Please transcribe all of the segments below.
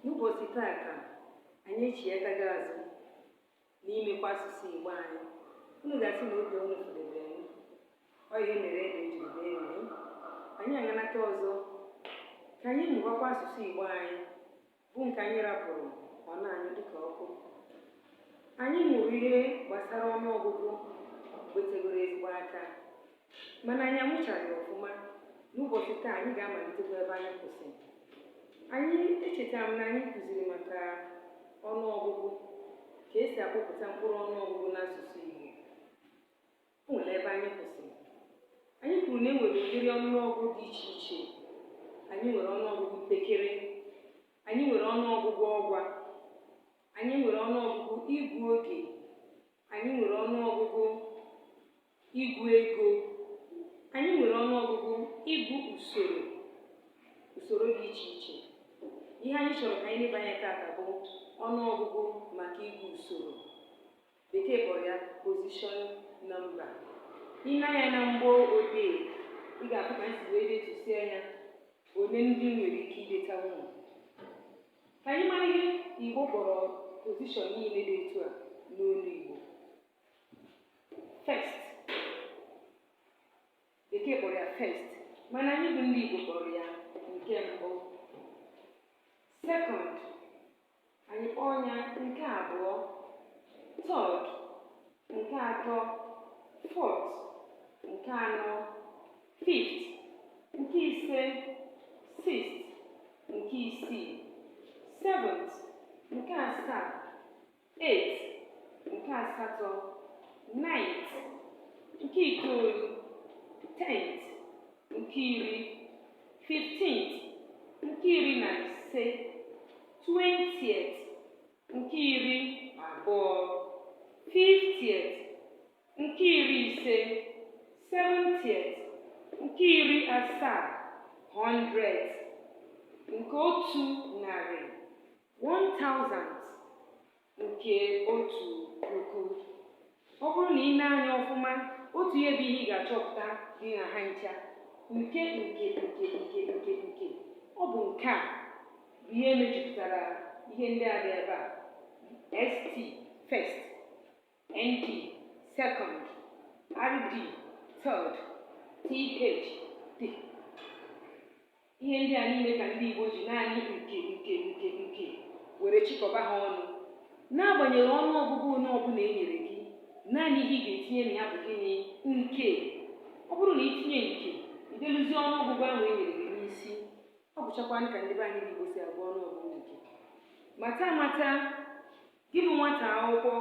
n'ụbọchị taa ka anyị echighatago azụ n'imekwa asụsụ Igbo anyị unu ga-asị na oge unu fụdebere m ọ ihe mere ede jiri bee nwịị anyị aganata ọzọ ka anyị mụbakwa asụsụ Igbo anyị bụ nke anyị rapụrụ ọ na-anyụ dịka ọkụ anyị mụrụ ihe gbasara ọnụọgụgụ mgbe tegoro ezigbo aka mana anyị amụchaghị ọfụma n'ụbọchị taa anyị ga-amalitekwa ebe anyị kwụsịrị anyị echetara m na anyị kụziri maka ọnụ ọgụgụ ka esi akpọpụta mkpụrụ ọnụ ọgụgụ n'asụsụ Igbo o nwere ebe anyị kwụsịrị anyị kwuru na e nwere ụdịrị ọnụọgụgụ dị iche iche anyị nwere ọnụọgụgụ mpekere anyị nwere ọnụọgụgụ ọgwa anyị nwere ọnụọgụgụ ịgụ oge anyị nwere ọnụọgụgụ Ịgụ ego. Anyị nwere ọnụ ọgụgụ ịgụ usoro usoro dị iche iche. Ihe anyị chọrọ ka anyị leba anya tata bụ ọnụ ọgụgụ maka ịgụ usoro. Bekee kpọrọ ya position number. I nee anya na mgbo odee, ị ga-ahụ ka m si wee detusie anya ole ndị nwere ike idetanwu. Ka anyị mara ihe Igbo kpọrọ position niile dị etu a n'olu Igbo. first bekee kpọrọ ya first mana anyị bụ ndị Igbo kpọrọ ya nke mbụ second anyị kpọọ ya nke abụọ third nke atọ fourth nke anọ fifth nke ise sixth nke isii seventh nke asaa eighth nke asatọ ninth nke itoolu tenth nke iri fifteenth nke iri na ise twentieth nke iri abụọ fiftieth nke iri ise seventieth nke iri asaa hundredth nke otu narị One thousand nke otu puku. Ọ bụrụ na ị nee anya ọfụma, otu ihe bụ ihe ị ga-achọpụta dị na ha ncha. Nke nke nke nke nke nke. Ọ bụ nke a bụ ihe mejupụtara ihe ndị a dị ebe a. ST, first. ND, second, RD, third, TH, D. Ihe ndị a niile ka ndị Igbo ji naanị nke nke nke nke were chịkọba ha ọnụ. N'agbanyeghị ọnụ ọgụgụ onye ọbụla e nyere gị, naanị ihe ị ga-etinye na ya bụ gịnị? Nke. Ọ bụrụ na i tinye nke, i deluzie ọnụ ọgụgụ ahụ e nyere gị n'isi. Ọ bụchakwanụ ka ndị be anyị Igbo si agụ ọnụ ọgụgụ nke. Mata mata Gị bụ nwata akwụkwọ,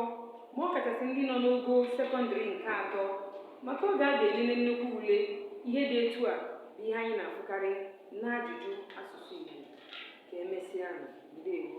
ma ọ kachasị ndị nọ n'ogo sekọndịrị nke atọ, maka oge a ga-elele nnukwu ule, ihe dị etu a bụ ihe anyị na-afụkarị n'ajụjụ asụsụ Igbo. Ka emesịanụ. Ndewo.